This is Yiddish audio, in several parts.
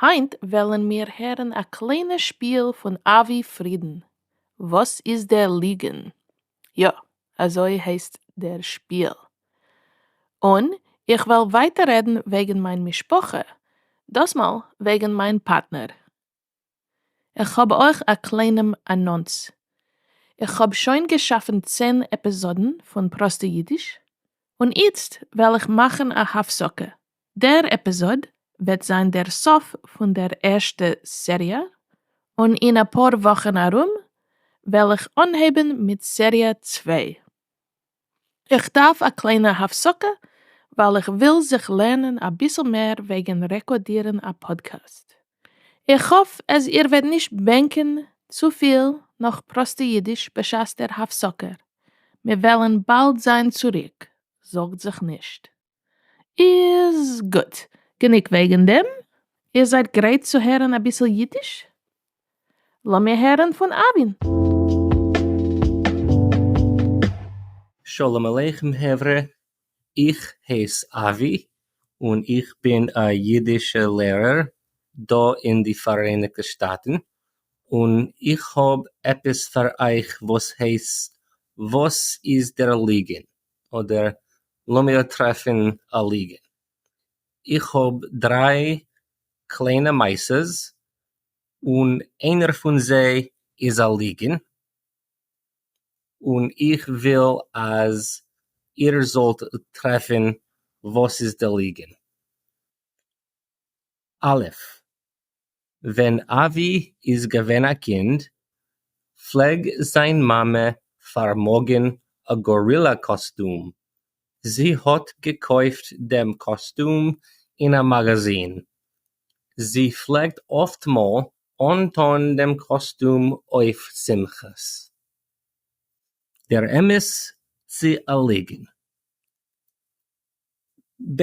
היינט וועלן מיר הערן א קליינע שפיל פון אבי פרידן, וואס איז דער ליגן? יא, אזוי הייסט דער שפיל. און איך וועל ווייטער רעדן וועגן מיין משפחה, דאסמאל וועגן מיין פארטנער. איך האב אויך א קליינעם אנאנס. איך האב שוין געשאפן צען עפיזאדן פון פראסטע אידיש, און איצט וועל איך מאכן א הפסקה דער עפיזאד וועט זיין דער סוף פון דער ערשטע סעריע, און אין אפאר וואכן ארום וועל איך אנהייבן מיט סעריע צוויי. איך דארף א קליינע הפסקה ווייל איך וויל זיך לערנען אביסל מער וועגן רעקאדירן א פאדקעסט. איך האף אז איר וועט נישט בענקען צופיל נאך פראסטע אידיש בשעת דער הפסקה. מיר וועלן באלד זיין צוריק, זארגט זיך נישט. איז גוט. גענוג וועגן דעם. איר זייט גרייט צו הערן אביסל אידיש? לאמיר הערן פון אבין. שלום עליכם חברה, איך הייס אבי און איך בין א אידישע לערער דא אין די פאראייניגטע שטאטן, און איך האב עפעס פאר אייך וואס הייסט וואס איז דער ליגענט? אדער לאמיר טרעפן א ליגענט, איך האב דריי קליינע מעשות און איינער פון זיי איז א ליגען, און איך וויל אז איר זאלט טרעפן וואס איז די ליגען. א' ווען אבי איז געווען א קינד פלעג זיין מאמע פארמאגען א גארילא קאסטום, זי האט געקויפט דעם קאסטום אין א מאגאזין, זי פלעגט אפטמאל אנטון דעם קאסטום אויף שמחות. דער אמת צו א ליגן? ב'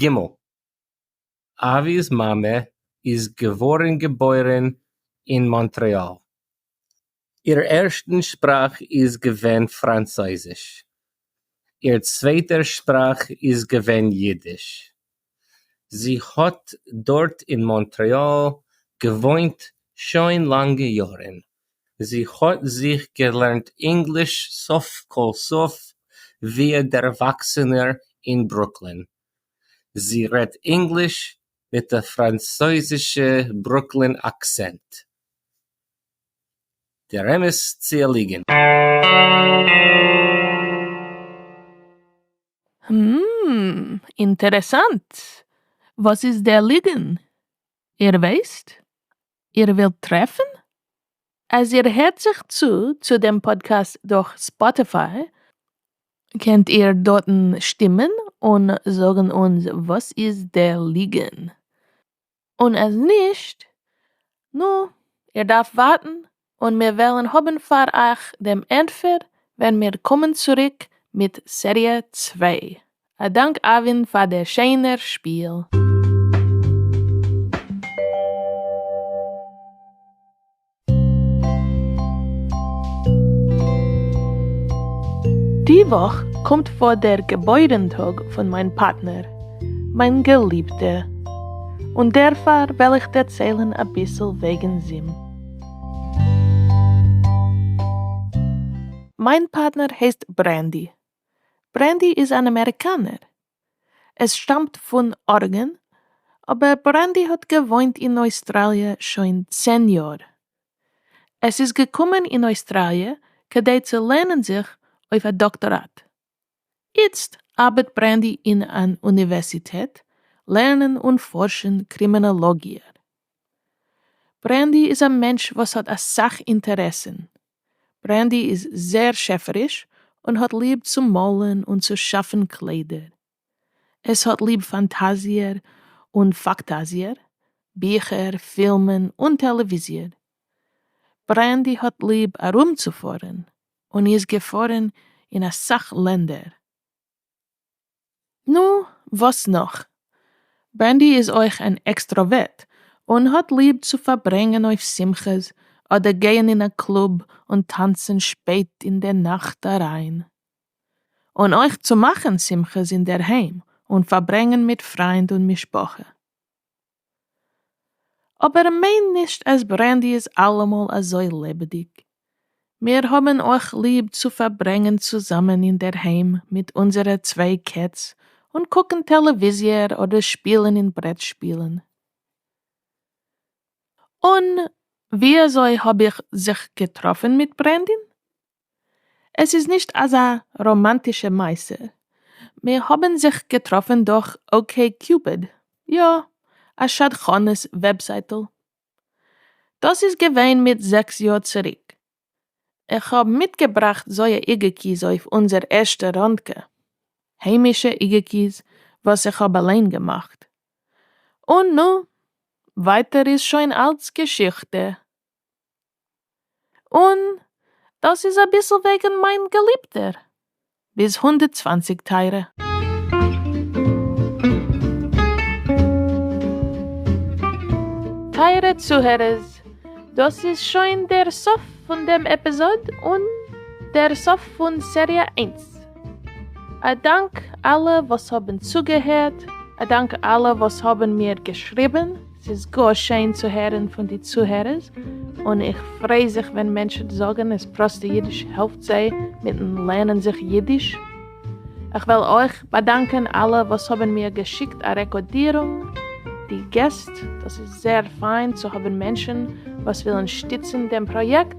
ג. אבי'ס מאמע איז געווארן געבוירן אין מאנטרעאל. איר ערשטן שפראך איז געווען פראנצויזיש. איר צווייטער שפראך איז געווען יידיש. זי האט דארט אין מאנטרעאל געוואוינט שוין לאנגע יארן. זי האָט זיך געלערנט ענגליש סוף-כּל-סוף ווי אַ דערוואַקסענער אין ברוקלין. זי רעדט ענגליש מיט אַ פֿראַנצויזישע ברוקלין אַקצענט. דער אמת צי אַ ליגענט? הום, אינטערעסאַנט. וואָס איז דער ליגען? איר ווייסט? איר ווילט טרעפן? אז איר הערט זיך צו צו דעם פאדקעסט דורך ספאטיפיי, קענט איר דארטן שטימען און זאגן אונז וואס איז דער ליגן, און אז נישט, נו, איר דארפט ווארטן און מיר וועלן האבן פאר אייך דעם ענטפער ווען מיר קומען צוריק מיט סעריע צוויי. א דאנק אבין פאר דער שענער שפיל. די וואך קומט פאר דער געבוירן טאג פון מיין פארטנער, מיין געליבטע, און דערפאר וועל איך דערציילן אביסל וועגן זים. מיין פארטנער הייסט ברענדי, ברענדי איז אן אמעריקאנער. עס שטאמט פון ארגען, אבער ברענדי האט געוואוינט אין אויסטראליע שוין צען יאר. עס איז געקומען אין אויסטראליע כדי צו לערנען זיך אויף א דאקטאראט. איצט ארבעט ברענדי אין אן אוניווערסיטעט לערנען און פארשן קרימינאלאגיע. ברענדי איז א מענטש וואס האט אסאך אינטערעסן. ברענדי איז זעהר שעפעריש און האט ליב צו מאלען און צו שאפען קליידער. עס האט ליב פאנטאזיער און פאקטאזיער, ביכער, פילמען און טעלעוויזיער. ברענדי האט ליב ארומצופארען און איז געפארען אין אסאך לענדער. נו, וואס נאך? ברענדי איז אויך אן עקסטראווערט און האט ליב צו פארברענגען אויף שמחות אדער גייען אין א קלוב און טאנצען שפעט אין די נאכט אריין. און אויך צו מאכען שמחות אינדערהיים און פארברענגען מיט פריינד און משפחה. אבער מיין נישט אז ברענדי איז אלעמאל אזוי לעבעדיג. מיר האבן אויך ליב צו פארברענגען צוזאמען אינדערהיים מיט אונזערע צוויי קעץ און קוקן טעלעוויזיע אדער שפילן אין ברעט שפילן. און וויאזוי האב איך זיך געטראפן מיט ברענדי? עס איז נישט אזא ראמאנטישע מעשה, מיר האבן זיך געטראפן דורך אקעי קיופיד, יא, א שדכנות וועבזייטל. דאס איז געווען מיט זעקס יאר צוריק. איך האב מיטגעבראכט זויע איגעקיס אויף אונזער ערשטע רונדקע, היימישע איגעקיס וואס איך האב אליין געמאכט. און נו, ווייטער איז שוין אלץ געשיכטע. און דאס איז אביסל וועגן מיין געליבטער ביז הונדערט צוואַנציק טייערע. טייערע צוהערערס, דאס איז שוין דער סוף פון דעם עפיזאד און דער סוף פון סעריע איינס. א דאנק אלע וואס האבן צוגעהערט, א דאנק אלע וואס האבן מיר געשריבן. ס'איז גאר שיין צו הערן פון די צוהערערס, און איך פריי זיך ווען מענטשן זאגן אז פראסטע אידיש העלפט זיי מיטן לערנען זיך אידיש. איך וויל אויך באדאנקען אלע וואס האבן מיר געשיקט א רעקארדירונג, די געסט, דאס איז זייער פיין צו האבן מענטשן וואס ווילן שטיצן דעם פראיעקט.